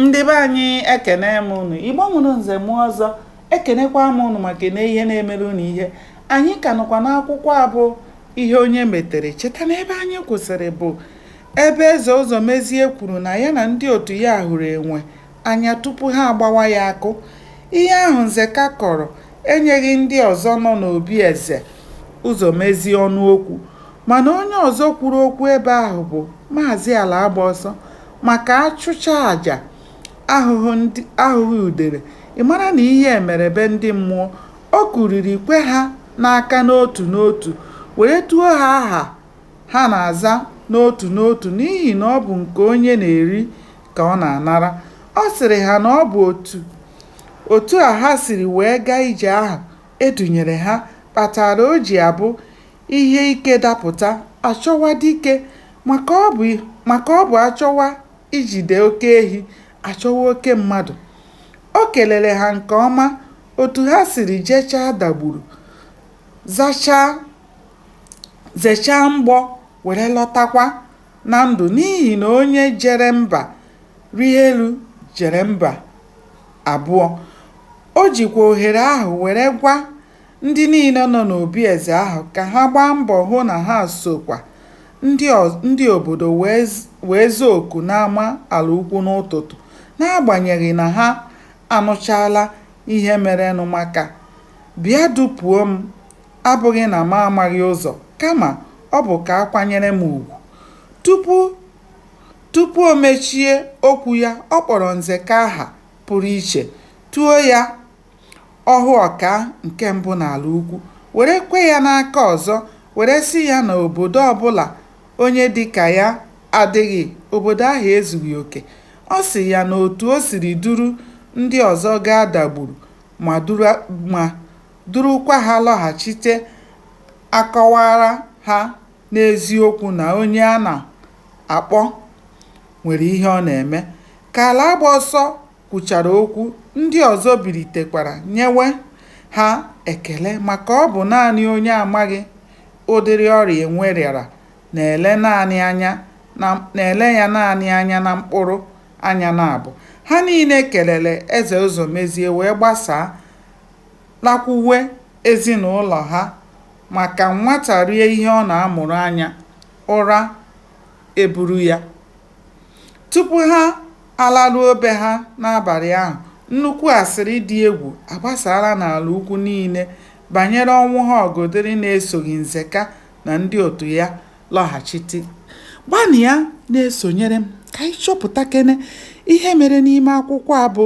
ndị be anyị ekene m unu igbo mụrụ nze mụọ ọzọ ekenekwa m unu maka na ihe na-emere unu ihe anyị ka nọkwa n'akwụkwọ a bụ ihe onye metere cheta na ebe anyị kwụsịrị bụ ebe eze ụzọmezie kwuru na ya na ndị otu ya hụrụ enwe anya tupu ha agbawa ya akụ ihe ahụ nzeka kọrọ enyeghị ndị ọzọ nọ n'obi eze ụzọmezie ọnụ okwu mana onye ọzọ kwuru okwu ebe ahụ bụ maazị alagbaọsọ maka a chụchaa aja ahụghị udele ị mara na ihe mere be ndị mmụọ o kuriri kwe ha n'aka n'otu n'otu were tuo ha aha ha na-aza n'otu n'otu n'ihi na ọ bụ nke onye na-eri ka ọ na-anara ọ sịrị ha na ọ bụ otu otu a ha siri wee gaa ije ahụ e dunyere ha kpatara o ji abụ Ihe ike dapụta, a chọwa dike. Maka ọ bụ a chọwa ijide oke ehi, a chọwa oke mmadụ. O kelere ha nke ọma otu ha siri jechaa Dagburu, zechaa mgbọ were lọtakwa na ndụ n'ihi na onye jere mba rịa elu jere mba abụọ. O jikwa ohere ahụ were gwa Ndị niile nọ n'obi eze ahụ ka ha gbaa mbọ hụ na ha sokwa ndị obodo wee zaa oku n'ama Alaukwu n'ụtụtụ n'agbanyeghị na ha anụchaala ihe merenụ maka Bịa dupuo m abụghị na m amaghị ụzọ kama ọ bụ ka a kwanyere m ugwu. Tupu o mechie okwu ya, ọ kpọrọ Nzeka aha pụrụ iche, tuo ya Ọhụọkaa nke mbụ n'Alaukwu were kwe ya n'aka ọzọ were sị ya na obodo ọbụla onye dị ka ya adịghị, obodo ahụ ezughị oke. Ọ sị ya na otu o siri duru ndị ọzọ gaa Dagburu ma durukwa ha lọghachite akọwaara ha n'eziokwu na onye a na-akpọ nwere ihe ọ na-eme. Ka Alagbaọsọ kwuchara okwu, ndị ọzọ bilitekwara nyewe ha ekele maka ọ bụ naanị onye amaghị ụdịrị ọrịa enwe rịara na-ele ya naanị anya na mkpụrụ anya naabụ. Ha niile kelere Eze Ụzọmezie wee gbasaa lakwuwe ezinụlọ ha maka nwata rie ihe ọ na-amụrụ anya, ụra eburu ya. Tupu ha alaruo be ha n'abalị ahụ, nnukwu asịrị dị egwu agbasaala n'ala ukwu niile banyere ọnwụ ha ọgọdịrị na-esoghị Nzeka na ndị otu ya lọghachite. Gbanịa na-esonyere m ka anyị chọpụtakene ihe mere n'ime akwụkwọ a bụ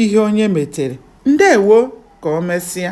Ihe Onye Metere. Ndewo! Ka o mesịa.